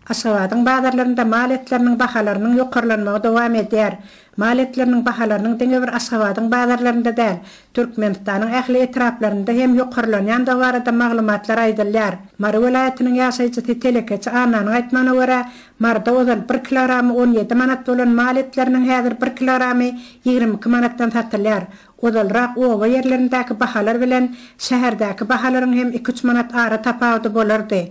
Aşgabadyň bazarlarynda mal etleriniň bahalarynyň ýokarlanmagy dowam edýär. Mal etleriniň bahalarynyň diňe bir Aşgabadyň bazarlarynda däl, Türkmenistanyň ähli etraplarynda hem ýokarlanýandygy barada maglumatlar aýdylýar. Mary welaýatynyň ýaşaýjysy telekeçi Annanyň aýtmagyna görä, Maryda ozal bir kilogramy on ýedi manat bolan mal etleriniň häzir bir kilogramy ýigrimi iki manatdan satylýar. Ozalrak oba ýerlerindäki bahalar bilen şäherdäki bahalaryň hem iki-üç manat ara tapawudy bolardy.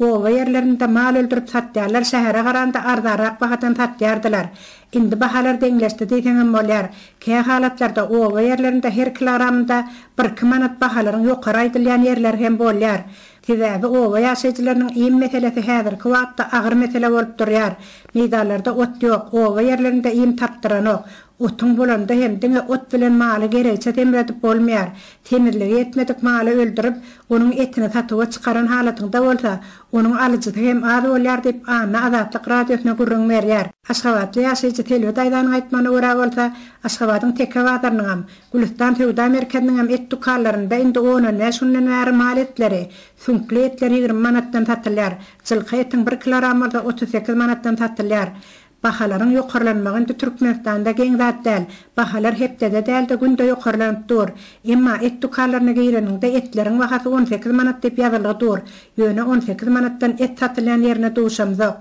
Oba ýerlerinde mal öldürip satýarlar şähere garanda arzarak bahadan satýardylar. Indi bahalar deňleşdi diýseňem bolýar. Kä halatlarda oba ýerlerinde her kilogramynda birki manat bahalaryň ýokary aýdylýan ýerler hem bolýar. Sebäbi oba ýaşaýjylarynyň iým meselesi häzirki wagtda agyr mesele bolup durýar. Meýdanlarda ot ýok, oba ýerlerinde iým tapdyranok. Otuň bolanda hem diňe ot bilen maly geregiçe semredip bolmaýar. Semizligi ýetmedik maly öldürip, onuň etini satuwa çykaran halatyňda bolsa, onuň alyjysy hem az bolýar diýip, Anna Azatlyk Radiosyna gürrüň berýär. Aşgabatly ýaşaýjy Selbi daýzanyň aýtmagyna görä bolsa, Aşgabadyň Teke bazarynyňam, Gülüstan söwda merkeziniňem et dükanlarynda indi on-on bäş günden bäri mal etleri, süňkli etler ýigrimi manatdan satylýar, jylky etiň bir kilogram bolsa otuz sekiz manatdan satylýar. Bahalaryň ýokarlanmagy indi Türkmenistanda geň zat däl. Bahalar hepdede däl-de günde ýokarlanyp dur. Emma et dükanlaryna gireniňde etleriň bahasy on sekiz manat diýip ýazylgy dur. Ýöne on sekiz manatdan et satylýan ýerine duşamzok.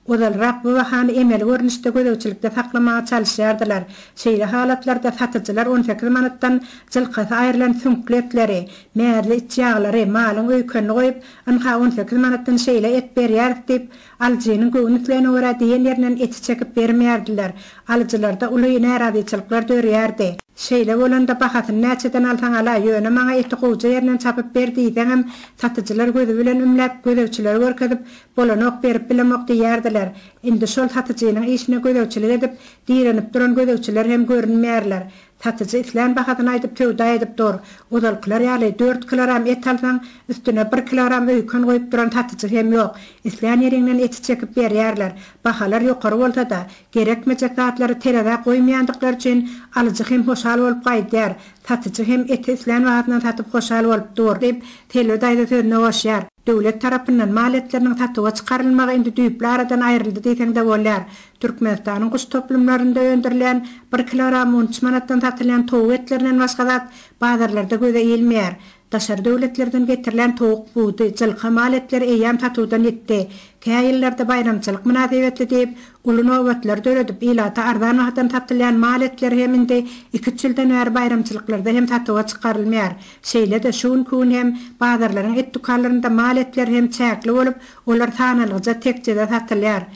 Ozalrak bu bahany emeli görnüşde gözegçilikde saklamaga çalyşýardylar. Şeýle halatlarda satyjylar on sekiz manatdan jylkasy aýrylan süňkli etleri, mäzli içýaglary, malyň öýkenini goýup, ynha on sekiz manatdan şeýle et berýäris diýip, Alyjynyň göwün islegine görä diýen ýerinden eti çekip bermeýärdiler. Alyjylarda uly närazyçylyklar dörýärdi. Şeýle bolanda bahasyny näçeden alsaň al-a, ýöne maňa eti gowja ýerinden çapyp ber diýseňem, satyjylar gözi bilen ümläp, gözegçileri görkezip, Bolanok, berip bilemok diýýärdiler. Indi şol satyjynyň işine gözegçilik edip, direnip duran gözegçiler hem görünmeýärler. Satyjy islän bahasyny aýdyp söwda edip dur. Ozalkylar ýaly dört kilogram et alsaň, üstüne bir kilogram öýken goýup duran satyjy hem ýok. Islän ýeriňden eti çekip berýärler. Bahalar ýokary bolsa-da, gerekmejek zatlary terezä goýmaýandyklary üçin alyjy hem hoşal bolup gaýdýar. Satyjy hem eti islän bahasyndan satyp hoşal bolup dur. Diýip, Selbi daýza sözüne goşýar. Döwlet tarapyndan mal etleriniň satuwa çykarylmagy indi düýpli aradan aýryldy diýseň-de bolýar. Türkmenistanyň guş toplumlarynda öndürilýän bir kilogram on üç manatdan satylýan towuk etlerinden başga zat bazarlarda göze ilmeýär. Daşary döwletlerden getirilen towuk budy, jylka mal etleri eýýäm satuwdan ýitdi. Kä ýyllarda baýramçylyk mynasybetli diýip, uly nobatlar döredip, ilata arzan bahadan satylýan mal etleri hem indi iki-üç ýyldan bäri baýramçylyklarda hem satuwa çykarylmaýar. Şeýle-de, şu günki gün hem bazarlaryň et dükanlarynda mal etleri hem çäkli bolup, olar sanalgyja tekjede satylýar.